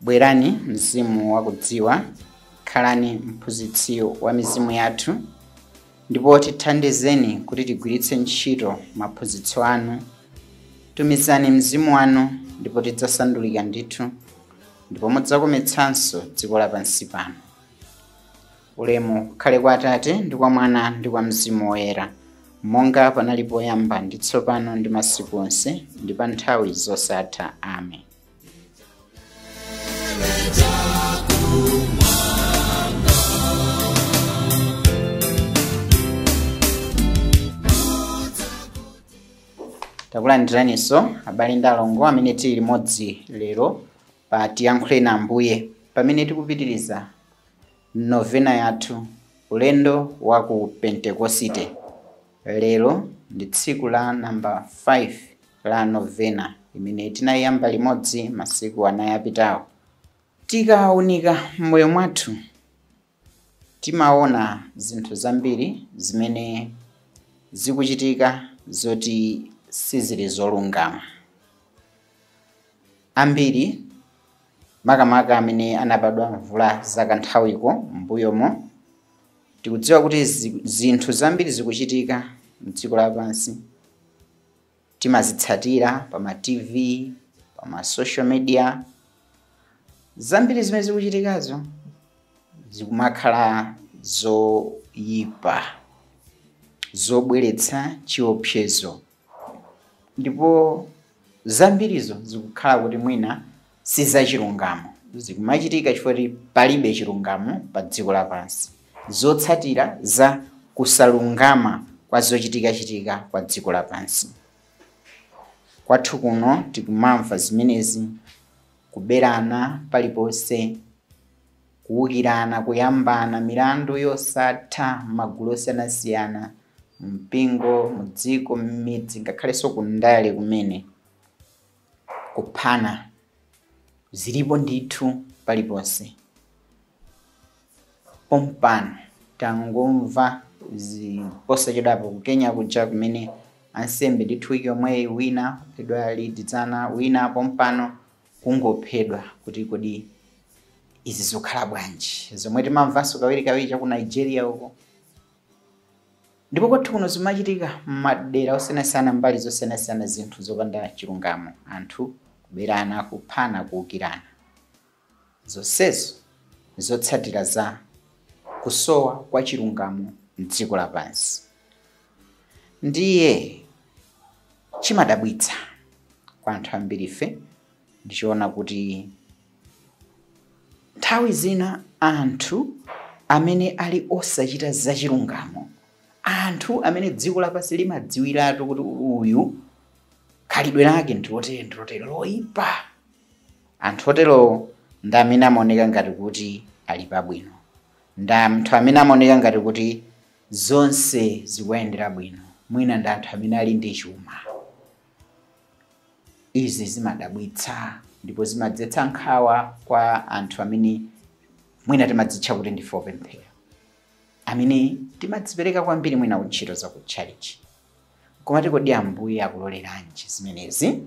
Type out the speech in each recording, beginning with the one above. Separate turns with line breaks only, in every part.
Bwerani, Mzimu wa Kudziwa, khalani Mphunzitsi wa mizimu yathu, ndipo tithandizeni kuti tigwiritse ntchito maphunzitso anu. Tumizani Mzimu wanu, ndipo tidzasandulika ndithu, ndipo mudzakometsanso dziko lapansi pano. Ulemu ukhale kwa Atate, ndi kwa Mwana, ndi kwa Mzimu Woyera, monga panali poyamba, ndi tsopano, ndi masiku onse, ndi pa nthawi zosatha. Amen. takulandiraniso abale ndi alongo amene tili limodzi lero pa tiyankhule na ambuye pamene tikupitiriza novena yathu ulendo wa ku pentekosite Lero ndi tsiku la number 5 la Novena imene tinayamba limodzi masiku anai apitawo. Tikaunika m'moyo mwathu timaona zinthu zambiri zimene zikuchitika zoti sizili zolungama. Ambiri makamaka amene anabadwa mvula zakanthawiko m'mbuyomo, Tikudziwa kuti zinthu zambiri zikuchitika mdziko lapansi, timazitsatira pa ma TV, pa ma social media. Zambiri zimene zikuchitikazo zikumakhala zoyipa, zobweretsa chiopsezo. ndipo zambirizo zikukhala kuti mwina si zachilungamo zikumachitika chifukwa kuti palibe chilungamo pa dziko lapansi zotsatira za kusalungama kwa zochitikachitika kwa dziko lapansi kwathu kuno tikumamva zimenezi kuberana paliponse Kuukirana, kuyambana, milandu yosatha m'magulu osiyanasiyana, mumpingo, mudziko, m'midzi, ngakhalenso kundale kumene. Kuphana zilipo ndithu paliponse. Pompano tangomva posachedwapo ku Kenya kuja kumene ansembe ndithu wiki yomweyi wina waphedwa lidzana, wina pompano kungophedwa kuti kodi izi zikukhala bwanji zomwe timamvanso kawirikawiri cha ku nigeria uko ndipo kwathu kuno zimachitika m'madera osiyanasiyana mbali zosiyanasiyana zinthu zopanda chilungamo anthu kuberana kuphana kuukirana zonsezo zotsatira za kusowa kwa chilungamo mdziko lapansi ndiye chimadabwitsa kwa anthu ambiri ife ndichiona kuti nthawi zina anthu amene ali osachita zachilungamo anthu amene dziko lapansi limadziwiratu kuti uyu khalidwe lake ndilotere ndilotere loyipa anthu otero ndi amene amaoneka ngati kuti ali pabwino ndi anthu amene amaoneka ngati kuti zonse zikuwayendera bwino mwina ndi anthu amene ali ndi chuma izi zimadabwitsa ndipo zimadzetsa nkhawa kwa anthu amene mwina timadzitcha kuti ndife opemphera amene timadzipereka kwambiri mwina ku ntchito za ku tchalichi koma kuti kodi ambuye akuloleranji zimenezi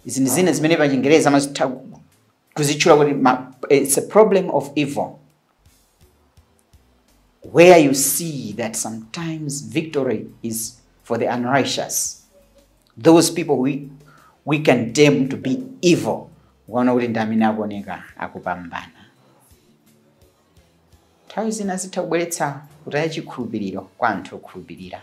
izi ndi zina zimene pachingereza amazitha kuzitchula kuti it's a problem of evil where you see that sometimes victory is for the unrighteous those people we condemn to be evil ukaona kuti ndi amene akuoneka akupambana nthawi zina zitha kubweretsa kutaya chikhulupiriro kwa anthu okhulupirira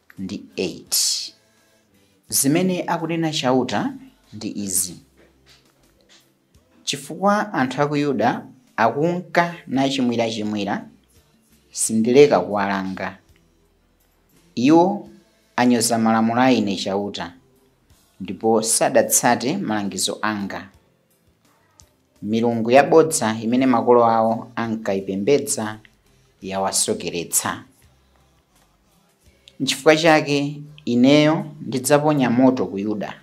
ndi 8 Zimene akunena Chauta ndi izi, Chifukwa anthu a ku Yuda akunka nachimwirachimwira, sindileka kuwalanga. Iwo anyoza malamulo a Ine Chauta, ndipo sadatsate malangizo anga. Milungu yabodza imene makolo awo ankaipembedza yawasokeretsa. N'chifukwa chake ineyo ndidzaponya moto ku Yuda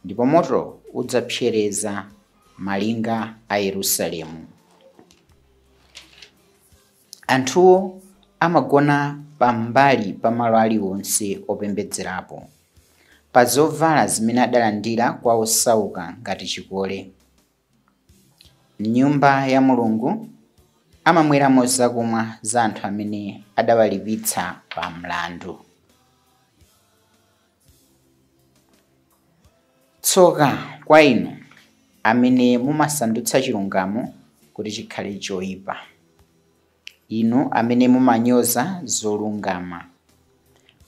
ndipo moto udzapsereza malinga a Yerusalemu. Anthuwo amagona pambali pa malo alionse opembedzerapo. pa zovala zimene adalandira kwa osauka ngati chikole. M'nyumba ya Mulungu amamweramo zakumwa za anthu amene adawalipitsa pa mlandu. Tsoka kwa inu amene mumasandutsa chilungamo kuti chikhale choipa. Inu amene mumanyoza zolungama.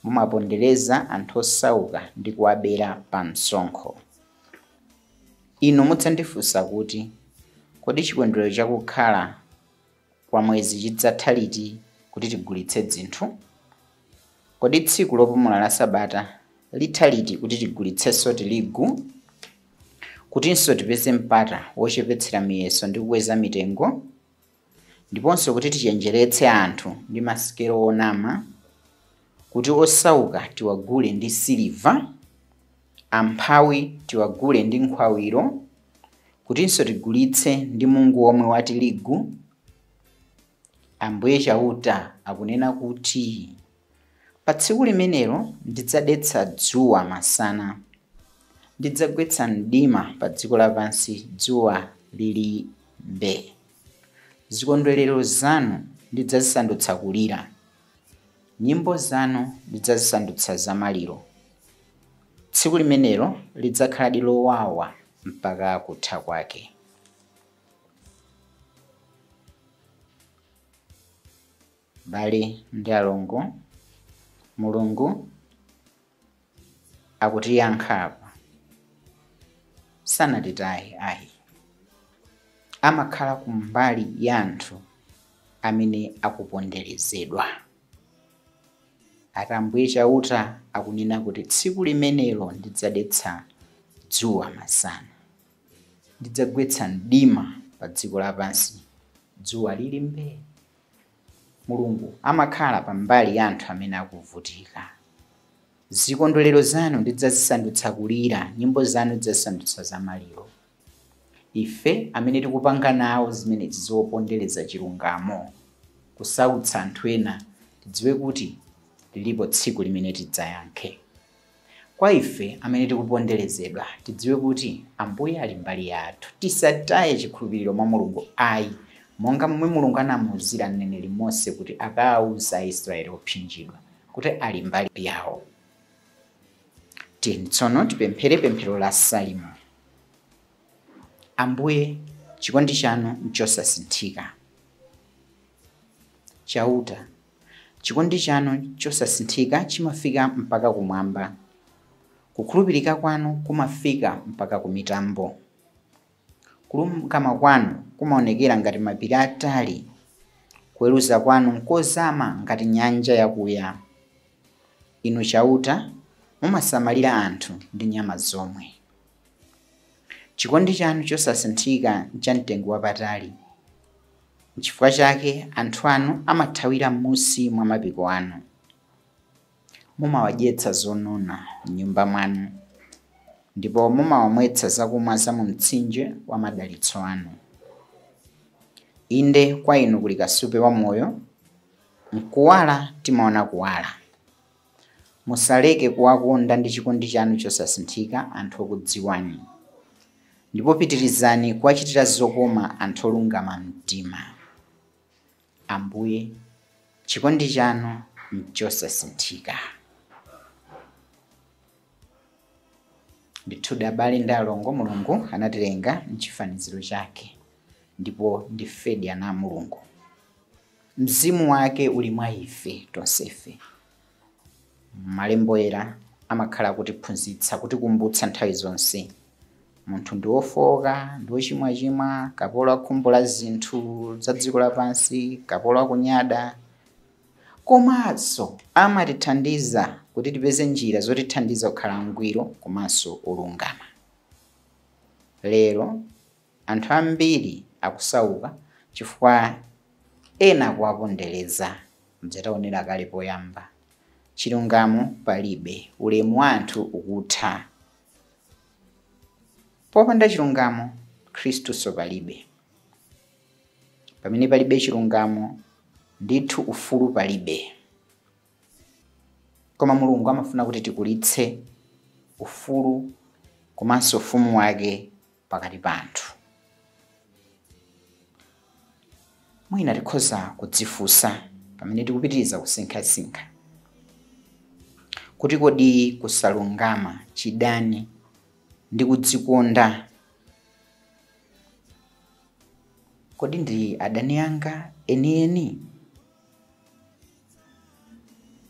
Mumapondereza anthu osauka ndi kuwabera pamsonkho. Inu mudzandifunsa kuti, Kodi chikondwerero cha kukhala kwa mwezi chidzatha liti kuti tigulitse dzinthu? Kodi tsiku lopumula la Sabata litha liti kuti tigulitsenso tirigu, kutinso tipeze mpata wochepetsera miyeso ndi kukweza mitengo? ndiponso kuti tichenjeretse anthu ndi masikelo onama, kuti osauka tiwagule ndi siliva, amphawi tiwagule ndi nkhwawiro, kutinso tigulitse ndi mungu womwe wa tirigu? Ambuye Chauta akunena kuti. Pa tsiku limenelo ndidzadetsa dzuwa masana. Ndidzagwetsa mdima padziko lapansi dzuwa lili mbee. Zikondwerero zanu ndidzazisandutsa kulira. Nyimbo zanu ndidzazisandutsa zamaliro. Tsiku limenelo lidzakhaladi lowawa mpaka kutha kwake. Abale ndi alongo, Mulungu akutiyankha apa. Sanatitaye ayi, amakhala kumbali ya anthu amene akuponderezedwa. Ati Ambuye Chauta akunena kuti tsiku limenelo ndidzadetsa dzuwa masana, ndidzagwetsa mdima pa dziko lapansi dzuwa lili mbee. Mulungu amakhala pa mbali ya anthu amene akuvutika. Zikondwerero zanu ndidzazisandutsa kulira, nyimbo zanu ndidzazisandutsa za maliro. Ife amene tikupanga nawo zimenezi zopondereza chilungamo, kusautsa anthu ena, tidziwe kuti lilipo tsiku limene tidzayankhe. Kwa ife amene tikuponderezedwa, tidziwe kuti Ambuye ali mbali yathu. Tisataye chikhulupiriro mwa Mulungu ayi, monga momwe Mulungu anamuuzira mneneri Mose kuti akawauze Aisraele opsinjidwa kuti ali mbali yawo. Tiyeni tsono tipemphere pemphero la Salimo. Ambuye, chikondi chanu nchosasinthika. Chauta, Chikondi chanu chosasinthika chimafika mpaka kumwamba. Kukhulupirika kwanu kumafika mpaka kumitambo. Kulungama kwanu kumaonekera ngati mapiri atali. Kuweruza kwanu nkozama ngati nyanja yakuya. Inu Chauta, mumasamalira anthu ndi nyama zomwe. Chikondi chanu chosasinthika nchamtengo wapatali. Nchifukwa chake anthu anu amathawira m'munsi mwa mapiko anu. Mumawadyetsa zonona m'nyumba mwanu, ndipo mumawamwetsa zakumwa za mu mtsinje wa madalitso anu. Inde, kwa inu kuli kasupe wa moyo, m'kuwala timaona kuwala. Musaleke kuwakonda ndi chikondi chanu chosasinthika anthu okudziwani, ndipo pitirizani kuwachitira zokoma anthu olungama mtima. Ambuye, chikondi chanu nchosasinthika. Ndithudi abale ndi alongo, Mulungu anatilenga m'chifaniziro chake ndipo ndifedi ana a Mulungu. Mzimu wake uli mwa ife tonsefe. Malembo Oyera amakhala kutiphunzitsa, kutikumbutsa nthawi zonse. Munthu ndi wofooka, ndi wochimwachimwa, kapolo wa khumbo la zinthu za dziko lapansi, kapolo wa kunyada. Komanso amatithandiza kuti tipeze njira zotithandiza kukhala angwiro komanso olungama. Lero Anthu ambiri akusauka chifukwa ena akuwapondereza. Muja taonera kale poyamba. Chilungamo palibe. Ulemu wa anthu ukutha. Popanda chilungamo, Khristunso palibe. Pamene palibe chilungamo, ndithu ufulu palibe. Koma Mulungu amafuna kuti tikulitse ufulu komanso ufumu wake pakati pa anthu. Mwina tikhoza kudzifunsa pamene tikupitiriza kusinkhasinkha kuti kodi kusalungama, chidani ndi kudzikonda kodi ndi adani anga enieni?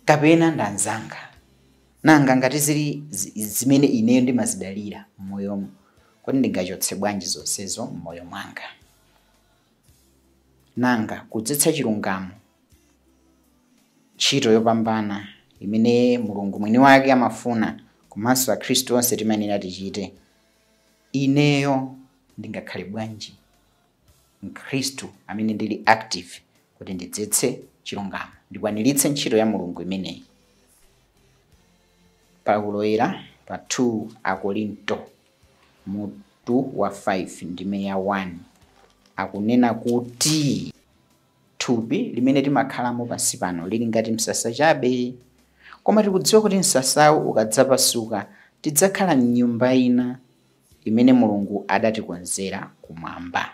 kapena ndanzanga nanga ngati zili zimene ineyo ndimazidalira m'moyomo kodi ndingachotse bwanji zonsezo m'moyo mwanga nanga kudzetsa chilungamo ntchito yopambana imene mulungu mwini wake amafuna komanso akhristu onse timayenera tichite ineyo ndingakhale bwanji Mkhristu amene ndili active kuti ndidzetse chilungamo, ndikwaniritse ntchito ya Mulungu imeneyi. Paulo Woyera pa 2 Akorinto mutu wa 5 ndime ya 1 akunena kuti thupi limene timakhalamo pansi pano lili ngati msasa chabe, koma tikudziwa kuti msasawu ukadzapasuka tidzakhala m'nyumba ina. imene Mulungu adatikonzera kumwamba.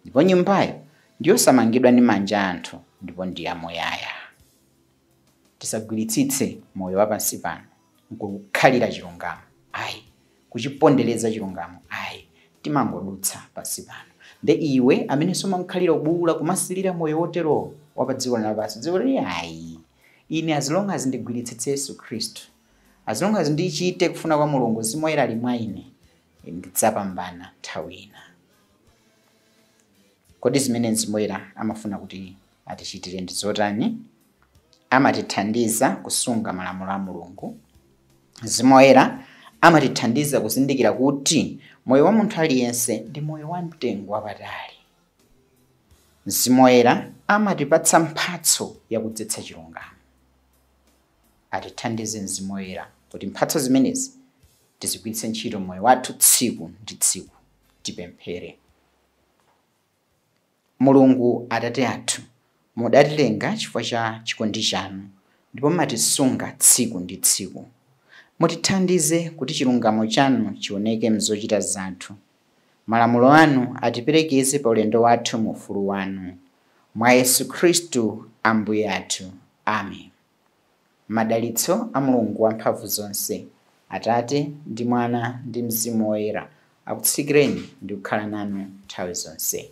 Ndipo nyumbayo ndiyosamangidwa ndi manja a anthu ndipo ndi yamuyaya. Tisagwiritsitse moyo wa pansi pano nkuukhalira chilungamo ayi, kuchipondereza chilungamo ayi, timangodutsa pansi pano. Nde iwe amenenso umamkhalira ubuula kumasilira moyo wotero wa padziko lino lapansi, dziwa kuti ayi, ine as long as ndigwiritsitse Yesu Khristu, As long as ndichite kufuna kwa Mulungu mzimu woyera ali mwa ine ndidzapambana nthawi ina. Kodi zimene mzimu woyera amafuna kuti atichitire ndi zotani? Amatithandiza kusunga malamulo a Mulungu. Mzimu woyera amatithandiza kuzindikira kuti moyo wa munthu aliyense ndi moyo wa mtengo wapatali. Mzimu woyera amatipatsa mphatso yakudzetsa chilungamo. Atithandize Mzimu Woyera kuti mphatso zimenezi tizigwiritse ntchito m'moyo wathu tsiku ndi tsiku. Tipemphere. Mulungu Atate athu, mudatilenga chifukwa cha chikondi chanu ndipo mumatisunga tsiku ndi tsiku. Mutithandize kuti chilungamo chanu chioneke m'zochita zathu Malamulo anu atiperekeze pa ulendo wathu mu ufulu wanu. Mwa Yesu Khristu Ambuye athu. Amen. Madalitso a Mulungu Wamphamvu zonse, Atate, ndi Mwana, ndi Mzimu Woyera, akutsikireni ndi kukhala nanu nthawi zonse.